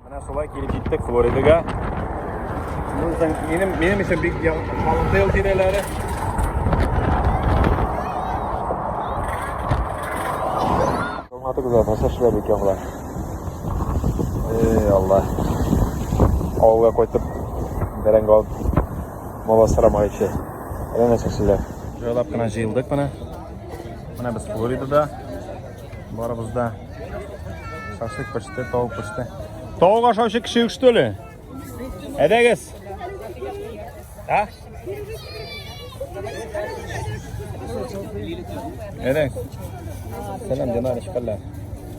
Менә шулай килеп җиттек Флоридага. Минем, минем өчен бик халыклы ел тирәләре. Алматы гүзәл, нәрсә эшләп икән болар? Эй, Алла. Авылга кайтып, бәрәңге алып, мала сырамак ичә. Әллә нәрсә эшлиләр. Җайлап кына җыелдык менә. Менә без Флоридада. Барыбыз да шашлык пеште, тавык пеште. Тавык ашаучы кеше юк, что ли? Әдәгез. А? Әдәгез. Сәлам, Динар, ишкәлләр.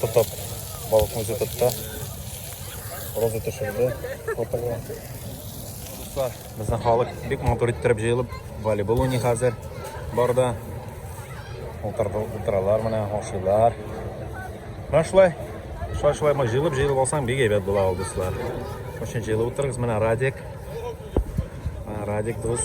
Тотып, балыкны үзе тотты. Роза төшерде фотога. Дуслар, безнең халык бик матур иттереп җыелып, волейбол уйный хәзер барда. Утыралар менә, ашыйлар. Менә шулай, шулай-шулай мы җыелып, җыелып алсаң, бик әйбәт була ул, дуслар. Шуның җыелып утырыгыз, менә Радик. Менә Радик дус.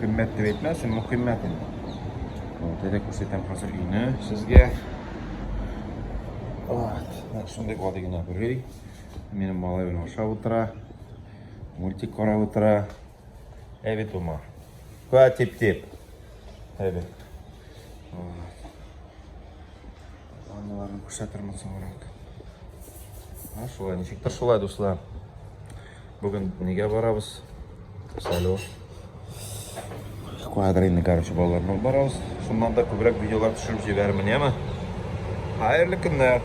Кыйммәт дип әйтмәсен, мөхиммәт инде. Вот, әле күрсәтәм хәзер өйне сезгә. Вот, нәкъ шундый гади генә бер өй. Минем малай белән ашап утыра. Мультик карап утыра. Әй бит ума. Куа тип-тип. Әй бит. Аналарын күрсәтермен соңрак. Шулай, ничектер шулай, дуслар. Бүген нигә барабыз? Салю. Квадрильный, короче, балалар белән барабыз. Шуннан да күбрәк видеолар төшереп җибәрмен, яме? Хәерле көннәр.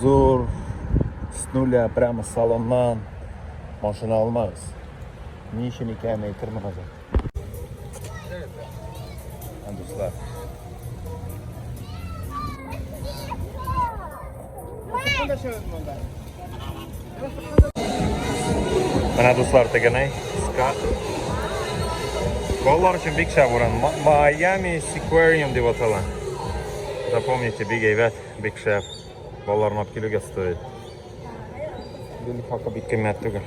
Зур, с нуля, прямо с салоннан машина алмагыз. Ни өчен икәнен әйтермен хәзер. Дуслар. Менә дуслар тегенай, ска. Балалар өчен бик шәп урын. Майами Сиквариум дип атала. Запомните, бик әйбәт. Бик шәп. Балалар мап килүгә стоит. Гүл хакы бик кыйммәт түгел.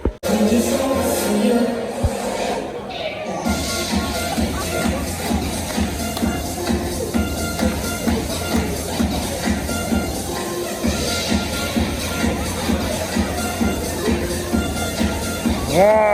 Yeah!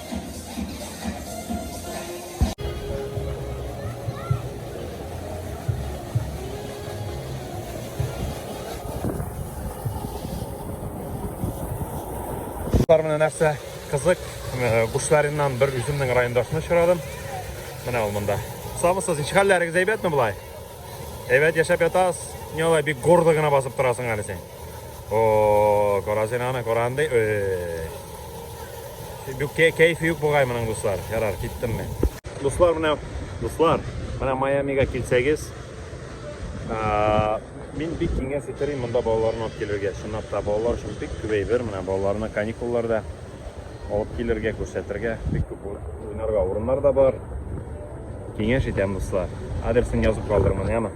Менә нәрсә кызык, бушларыннан бер үземнең райондашны очрадым. Менә ул монда. Сабысыз, ничек хәлләрегез әйбәтме болай? Әйбәт яшәп ятасыз. Не алай бик гордо гына басып торасың әле син. О, карасын аны, каранды. Бу кәйфе юк бугай моның дуслар. Ярар, киттем мен. Дуслар, менә, дуслар, менә Майамига килсәгез, Мин бик киңәш итәрем монда балаларны алып килергә. Чынлап та балалар өчен бик күп әйбер. Менә балаларны каникулларда алып килергә, күрсәтергә. Бик күп уйнарга урыннар да бар. Киңәш итәм, дуслар. Адресын язып калдырмын, яме?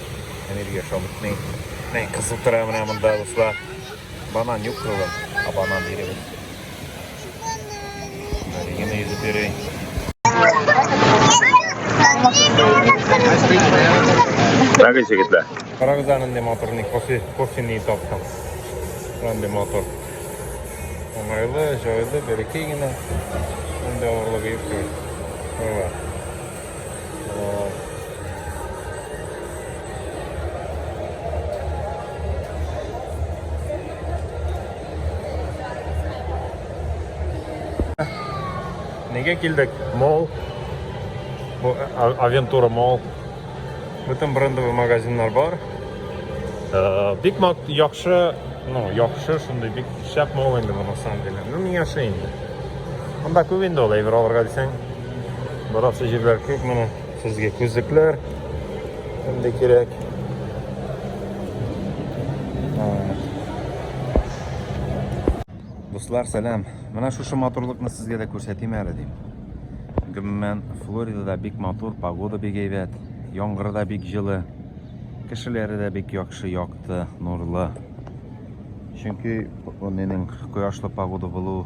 Энергия шабытный. Мен кызыл тора менә монда дуслар. Банан юк кылы. А банан биребез. Регина йөзеп йөри. Мәгән җегетләр. Карагыз анда моторны кофе кофены таптым. Анда мотор. Уңайлы, җайлы, бәләкәй генә. Анда авырлыгы юк. Ага. Неге килдек? Мол. Бу а- Авентура Мол. Бөтен брендовый магазиннар бар. Э, Бик мак яхшы, ну, яхшы шундый бик шәп мол инде бу на самом деле. Ну, миңа шәй инде. Монда күп инде ул әйбер алырга дисәң. Барасы җирләр күп менә. Сезгә күзлекләр инде кирәк. Дуслар, сәлам. Менә шушы матурлыкны сезгә дә күрсәтим әле дим. Гомумән, Флоридада бик матур, погода бик әйбәт, яңгыры да бик җылы, кешеләре дә бик яхшы, якты, нурлы. Чөнки менең кояшлы погода булу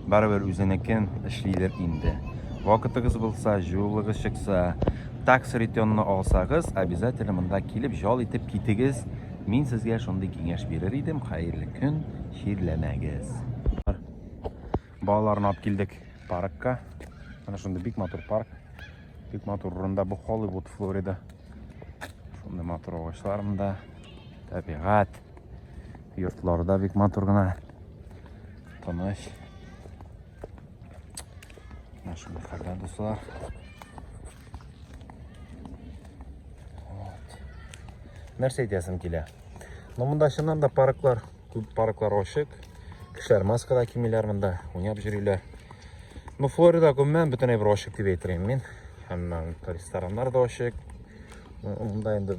Барыбер үзенекен эшлидер инде. Вакытыгыз булса, җылылыгыз чыкса, такс ретённы алсагыз, обязательно монда килеп җал итеп китегез. Мин сезгә шундый киңәш бирер идем. Хәерле көн, чирләмәгез. Балаларны алып килдек паркка. Менә шундый бик матур парк. Бик матур урында бу Холливуд, Флорида. Шундый матур агачлар монда. Табигать. Йортлары да бик матур гына. Тыныч. Менә шундый хәлдә дуслар. Вот. Нәрсә әйтәсем килә? Ну, монда чыннан да парклар, күп парклар ачык. Кешеләр маскада кимиләр монда, уйнап йөриләр. Ну, Флорида гомумән бөтенләй бер ачык дип әйтер мин. Һәм рестораннар да ачык. Монда инде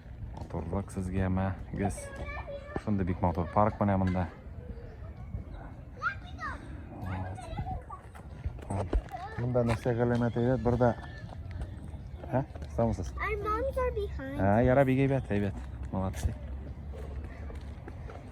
Матурлык сезгә мәгез. Шундый бик матур парк менә монда. Монда нәрсә галәмәт әйбәт, бер дә. Һә? Самсыз. Ә, яра бик әйбәт, әйбәт. Молодцы.